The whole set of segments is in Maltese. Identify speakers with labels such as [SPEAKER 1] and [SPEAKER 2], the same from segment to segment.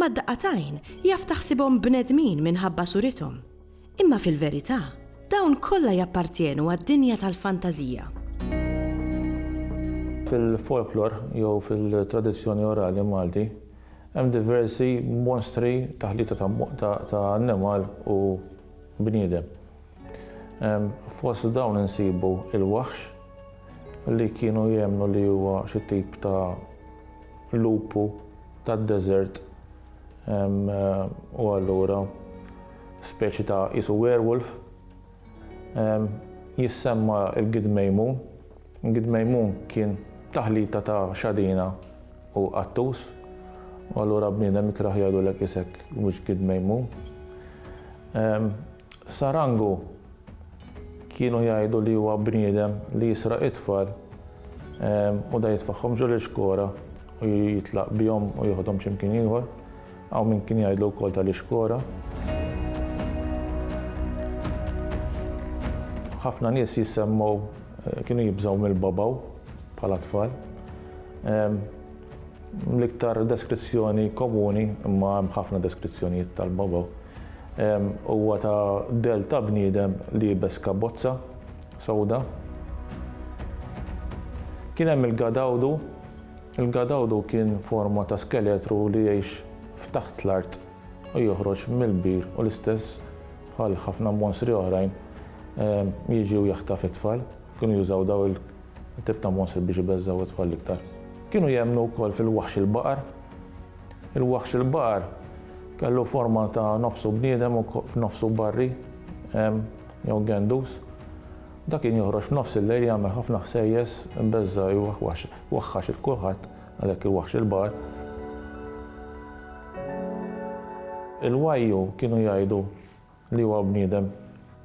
[SPEAKER 1] Mad-daqqa t'għajn jaf taħsibhom bnedmin minħabba surithom. Imma fil-verità, dawn kollha jappartjenu għad-dinja tal-fantażija. Fil-folklor jew fil-tradizzjoni orali Malti, hemm diversi monstri, taħlita ta' annimal u bniedem. Fost dawn insibu il-waħx, li kienu jemmnu li huwa xi tip ta' lupu tad-deżert u allura speċi ta' qisu werewolf. Jissemma l-Gid Mejmun. Il-Gid Mejmun kien taħlita ta' xadina u qattus u allura bniedem ikrah jgħidulek isek mhux Gid Mejmun. Sarangu kienu jgħidu li huwa bniedem li jisraq it-tfal u da jitfaħħom ġol ixkora u jitlaq bihom u joħodhom x'imkien ieħor. Hawn min kien jgħidlu wkoll tal-ixkora. ħafna nies jissemmu eh, kienu jibżaw mill-babaw bħala tfal. L-iktar deskrizzjoni komuni, imma hemm ħafna deskrizzjonijiet tal-Bobo, huwa ta' dell ta' bniedem liebes kabbozza sewda. Kien hemm il-Gadawdu. Il-Gadawdu kien forma ta' skeletru li jgħix f'taħt l-art u joħroġ mill-bir u l-istess bħal ħafna monstri oħrajn jiġi u jaħtaf it-tfal. Kienu jużaw dawn il. Tip ta' mostri biex ibeżżgħu t-tfal l-iktar. Kienu jemmnu wkoll fil-waħx il-baqar. Il-waħx il-baqar kellu forma ta' nofsu bniedem u nofsu barri, hemm, jew gendus. Dak kien joħroġ f'nofs il-lejl jagħmel ħafna ħsejjes, ibeżża' jwaħwax, waħħax il kulħadd, għalhekk il-waħx il-baqar. Il-wajju kienu jgħidu li huwa bniedem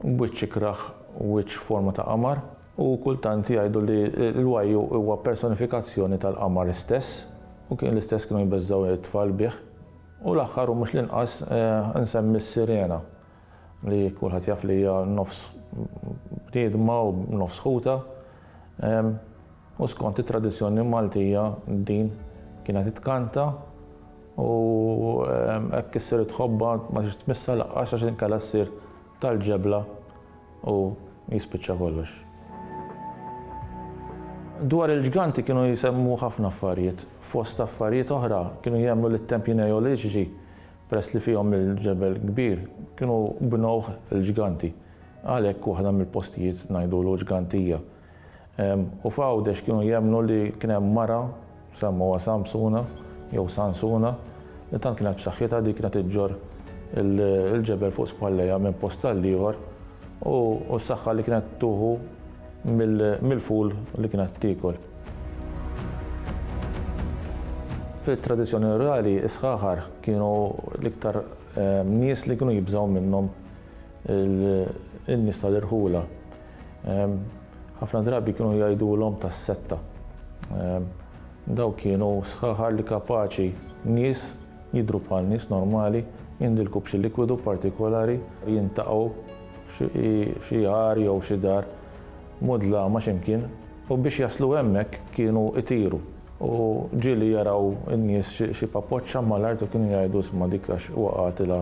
[SPEAKER 1] b'wiċċ ikrah, wiċċ f'forma ta' qamar, u kultant jgħidu li l-wajju huwa personifikazzjoni tal-qamar istess, u kien l-istess kienu jbeżżgħu it-tfal bih. U l-aħħar u mhux l-inqas insemmi s-sirena, li kulħadd jaf li hija nofs bniedma u nofs ħutha. U skont it-tradizzjoni Maltija din kienet titkanta u hekk issir it-tħobba ma tridx tmissha laqqas għax inkella ssir tal-ġebla u jispiċċa kollox. Dwar il-ġganti kienu jsemmu ħafna affarijiet. Fost affarijiet oħra kienu jemmnu li t-tempji Neoliċiċi, peress li fihom il-ġebel kbir, kienu bnewh il-ġganti. Għalhekk waħda mill-postijiet ngħidulu ġgantija. U f'Għawdex kienu jemmnu li kien hemm mara semmuha Samsuna jew Sansuna li tant kienet b'saħħitha li kienet iġġorr il-ġebel fuq spallejha minn post għall-ieħor u s-saħħa li kienet tuħu mill-ful li kienet tiekol. Fit-tradizzjoni rurali, is-sħaħar kienu l-iktar nies li kienu jibżgħu minnhom in-nies tal-irħula ħafna drabi kienu jgħidulhom tas-setta. Daw kienu sħaħar li kapaċi nies jidru bħal nies normali, jindilku b'xi likwidu partikolari, jintaqgħu f'xi għar jew xi dar mudlama x'imkien u biex jaslu hemmhekk kienu itiru u ġieli jaraw in-nies xi papoċċa mal-art u kienu jgħidu isma' dik għax waqgħetilha